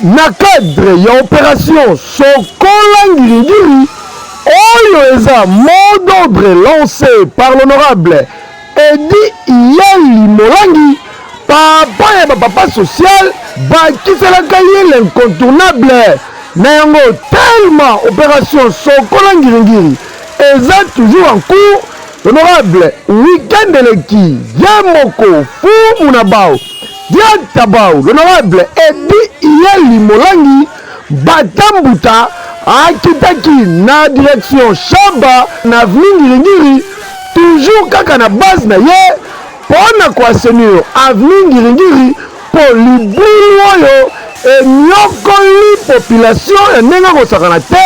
na cadre ya operation sokola ngirigiri oyo eza mot d'ordre lancé par l'honorable edi iyali molangi papa ya bapapa social bakiselaka ye l'incontournable na yango tellement opération sokola ngiringiri eza toujours en cours Honorable, week-end eleki ye moko fumu na bao dianta bao l'honorable Eddy Iyeli Molangi Bata Mbuta akitaki na direction Shaba na avenue Ngiri-Ngiri toujours kaka na base na ye mpo na ko assainir avenue Ngiri-Ngiri mpo libulu oyo eniokoli population ya ndenge akosakana te.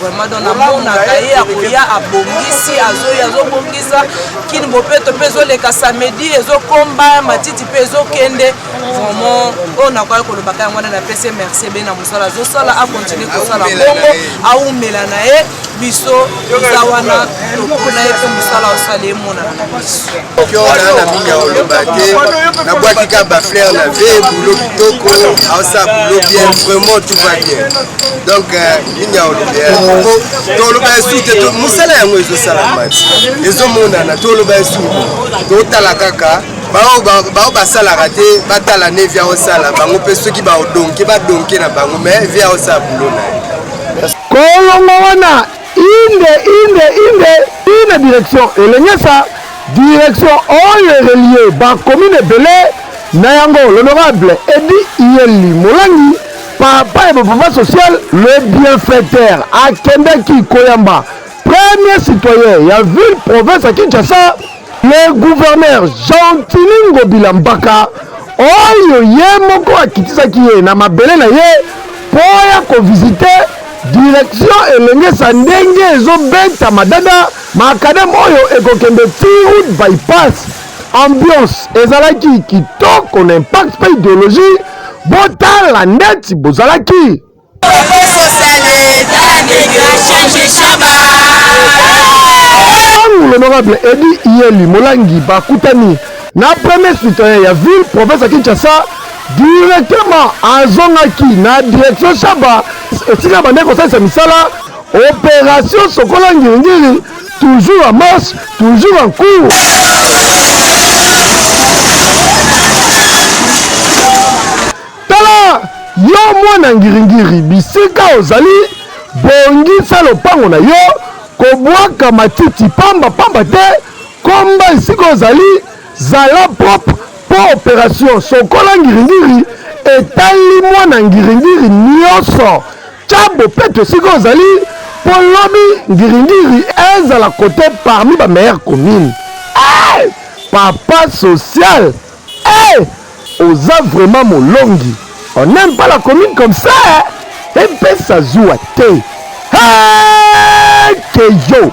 vraiment donc namonaka ye akoya abongisi azoyi azobongisa kini bopeto mpe ezoleka samedi ezokomba matiti mpe ezokende vraiment oyo nakoki kolobaka yango wana napesi merci be na mosala azosala akontinue kosala bongo awumela na ye biso eza wana tokona ye mpe mosala osala emonana na biso kiona na mingi ya oloba te nabwaki kaka bafleur na ve bulo kitoko aosala bulo bien vraiment tout va bien donc euh, nini aolobela yango toloba ya su te mosala yango ezosalama ezomonana toloba ya su totala kaka baoyo basalaka te batala ne via osala bango mpe soki baodonke badonke na bango me via osala bulo na ye kolongo wana inde inde inde ina direction elengesa direction oyo erelie bakomine ebele na yango l'honorable edi iyeli molangi Papa ya mouvement social le bienfaiteur akendaki koyamba premier citoyen ya ville province ya Kinshasa le gouverneur Gentili Ngobila Mbaka oyo ye moko akitisaki ye na mabele na ye mpo ya kovizite direction elengesa ndenge ezobeta madada makadam oyo ekokende ti route bypass Ambiance ezalaki kitoko na impact pe ideologie botala ndeti bozalaki. Tango l'honorable Eddy Iyeli Molangi bakutani na premier citoyen ya ville province ya Kinshasa, directement azongaki na direction Shaba esika abandaki kosalisa misala operation sokola ngiri-ngiri. Toujours en marche, toujours en cours. Tala yo mwana ngiringiri, bisika ozali bongisa lopango na yo, kobwaka matiti pamba pamba te, komba esika ozali, zala propre mpo operation sokola ngiringiri etali mwana ngiringiri nyonso. Tya bopeto esika ozali mpo lobi ngiringiri ezala kote parmi ba meilleure commune. Hey! Eh! Papa social hey! Eh! oza vraiment molongi on aime pas la commune comme ça epesa zuwa te hey! keyo